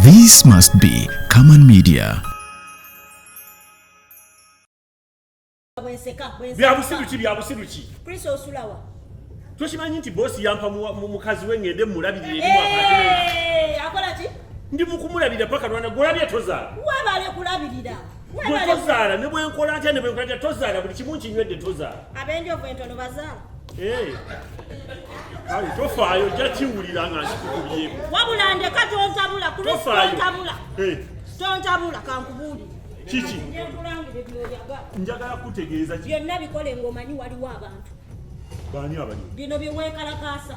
This must be Kaman Media. byabusiru ki byabusiru ki kristo osulawa tokimanyi nti bosi yampa mukazi we ngende mumulabirire akola ki ndi mukumulabira paka lwana gwolabye tozaala webale kulabirira gwe tozaala ne bwenkola atya ne bwenkola atya tozaala buli kimu nkinywedde tozaala abenjovu entono bazaala eh. kale tofaayo ojja kiwulira nga nkikukubyeko wabula ndeka tontabula kutontabula eh. tontabula kankubuuli kiki njagala kutegeeza byonna bikole ngaomanyi waliwo abantu bani abali bino byewekalakaasa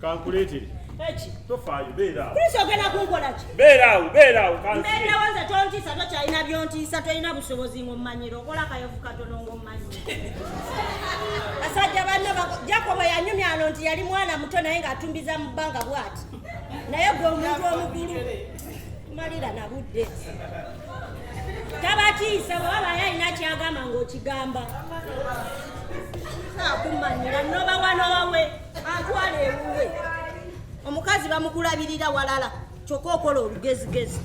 kankuleetere eki tofaayo beera kristo ogenda kunkola ki beera awo beera awo mbeerawo nze tontiisa tokyalina byontiisa tolina busobozi ng'ommanyira okola kayovu katono ng'ommanyi basajja banne jakobo yanyumya ano nti yali mwana muto naye ng'atumbiza mu bbanga bwati naye gwe omuntu omukulu tumalira na budde tabatiisa bwaba baye alina kyagamba ng'okigamba akumanyira nobawa nowawe atwala ewuwe omukazi bamukulabirira walala kyokka okola olugezigezi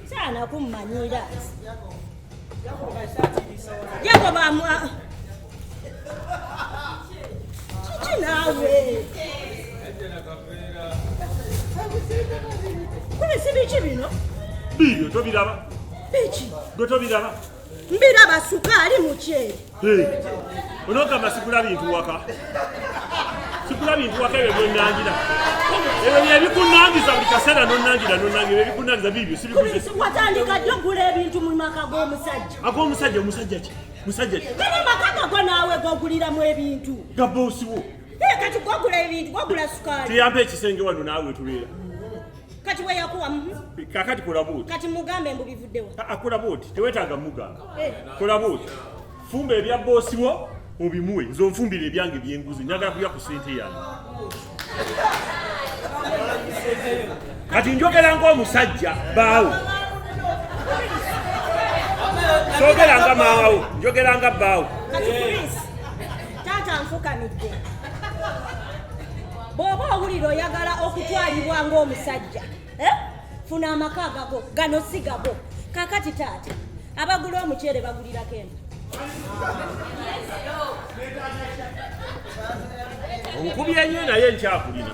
saana kummanyira yakoba kiki naawe kubisibiki bino biibyo tobiraba biki gwe tobiraba Mbira basuka ali mukyere. Hey. Onogamba sikula bintu waka. Sikula bintu waka ebyo byonangira. Ebyo byebikunangiza buli kaseera nonangira nonangira ebyo bikunangiza bibyo sibikuze. Watandika ddi okugula ebintu mu maka g'omusajja? Ag'omusajja omusajja ki? Musajja ki? Kati maka gago naawe goguliramu ebintu. Gabosiwo. Kati gogula ebintu gogula sukaali. Tuyambe ekisenge wano naawe tubeera. kati we yakuwa mm-hmm. kakati kola buuti kati mugambe mbu bivuddewa ah, ah, kola buuti tewetaaga mugamba eh. kola buuti fumba ebya boosi wo obimuwe nze onfumbira ebyange byenguzi njagala kulya ku sente yange kati njogera ngaomusajja baawo sogera nga maawo njogera nga baawo taata nfukamidde bw'oba owulira oyagala okutwalibwa ng'omusajja eh? funa amaka agago gano si gago kakati taata abagula omuceere bagulirako eno onkubye nyo naye nkyakulina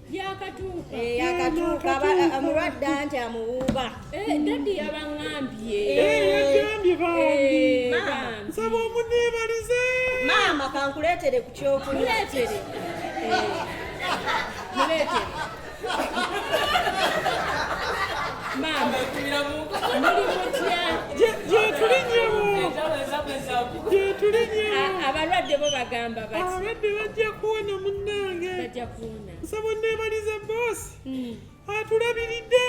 yakatuuka omulwadde anti amuwuuba dadi yabaŋambye yagambye bambi nsaba omuneebalize maama kankuleetere ku kyokunywa abalwadde bo bagamba bati abalwadde bajja kuwona munange nsaba onneebalize boosi hmm. atulabiridde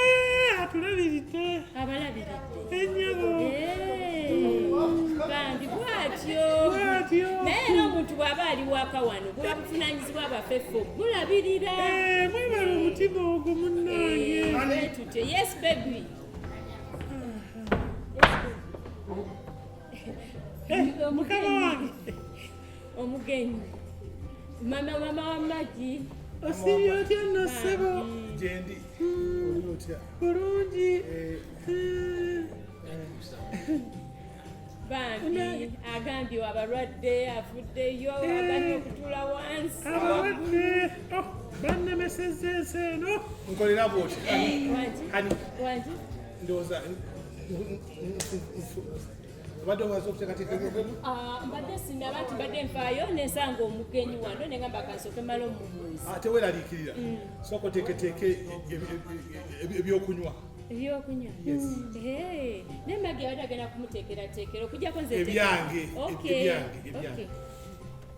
atulabiridde abalabiridde enyabo bandi bwatyo bwatyo naye era omuntu bw'aba ali waka wano buba buvunaanyizibwa abafefo bulabirira eh, mwebala omutima ogwo munnange eh, tutyo yes baby eh, mukama wange omugenyi mama mama wa magi osiibye otya nno ssebo gyendi oli otya bulungi eh. bambi agambye wabalwadde avuddeyo eh. agambye okutula wansi abalwadde oh, bannemesezza ensi eno nkolera bwoti eh, ndowooza obadde omaze okuteekateeka ebyogemu ah, mbadde sinaba nti mbadde nfaayo nensanga omugenyi wano ne ngamba kansooke mala omubuuzi ate ah, weeraliikirira mm. sooka oteeketeeka e, e, e, ebyokunywa ebyokunywa mm. naye magi abadde agenda kumuteekerateekera okujjako nze ebyange ebyange ebyange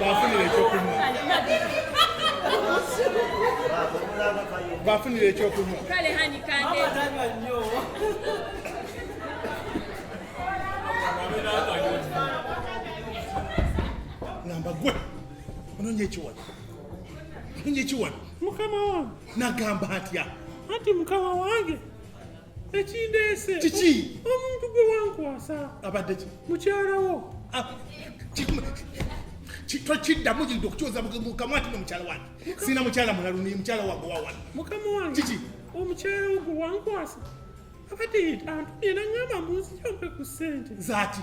bafunira ekyokunywa bafunira ekyokunywa ngamba gwe ononya ekiwano ononya ekiwano mukama wange nagamba atya anti mukama wange ekindeese kiki omuntu gwe wankwasa abadde ki mukyalawo ah, tokiddamu gidde okukyoza mukamwa tino mukyala wange sina mukyala mulalu ni mukyala wange wawano mukama wange kiki omukyala wo gwe wankwasa abadde antumye nangamba munzijampe ku ssente zaki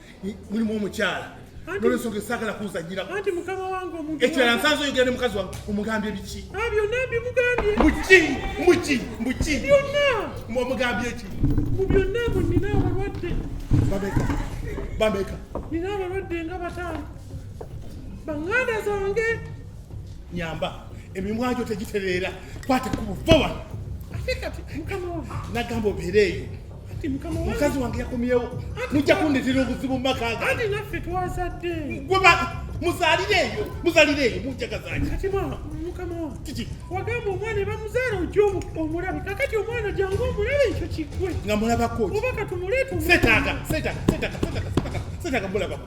mulimu omukyala nolwensonga esaagala kuzanyira anti mukama wange omuntu ekirala nsanze oyogera ne mukazi wange omugambye biki ah, byonna mbimugambye muki muki muki byonna omugambye ki mu byonna mu nina abalwadde bameka bameka nina abalwadde nga bataano banganda zange nyamba emimwa gyo tegitereera kwata ku buvowa ate kati mukama wange nagamba obeereeyo kati mukama wange mukazi wange yakomyewo mujja kundetera obuzibu mu maka ga anti naffe twazadde gwe muzalire eyo muzalire eyo mujagazanya kati mama mukama wange kiki wagamba omwana ebamuzaala ojja omulabe kakati omwana jangu omulabe ekyo kigwe nga mulabako oba katumuleeta setaaga setaaga setaaga setaaga setaaga mulabako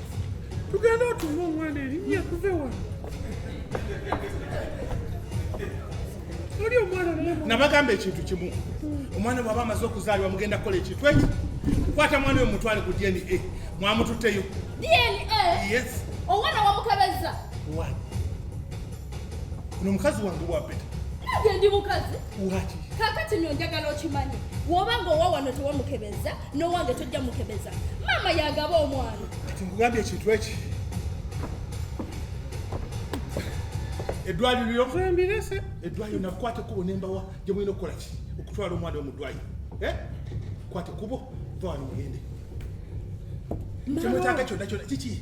tugenda otuuma omwana erinnya kuve wano oli omwana nabagamba ekintu kimu omwana bwaba amaze okuzaalibwa mugenda kukola ekintu ekyo kwata mwana oyo mutwale ku dna mwamututteyo dna omwana wamukebeza ono omukazi wange wapeta nage ndi mukazi kakati no njagala okimanyi woba nga owa wano tewamukebeza nowange tojja mukebeza maama yagaba omwana kati nkugambye ekintu eki eddwaliro lyokembirese eddwaliro nakwata ekubo nembawa gye mulina okukola ki okutwala omwana omu ddwaliro eh? kwata ekubo va wano mugende kyemwetaaga kyonna kyonna kiki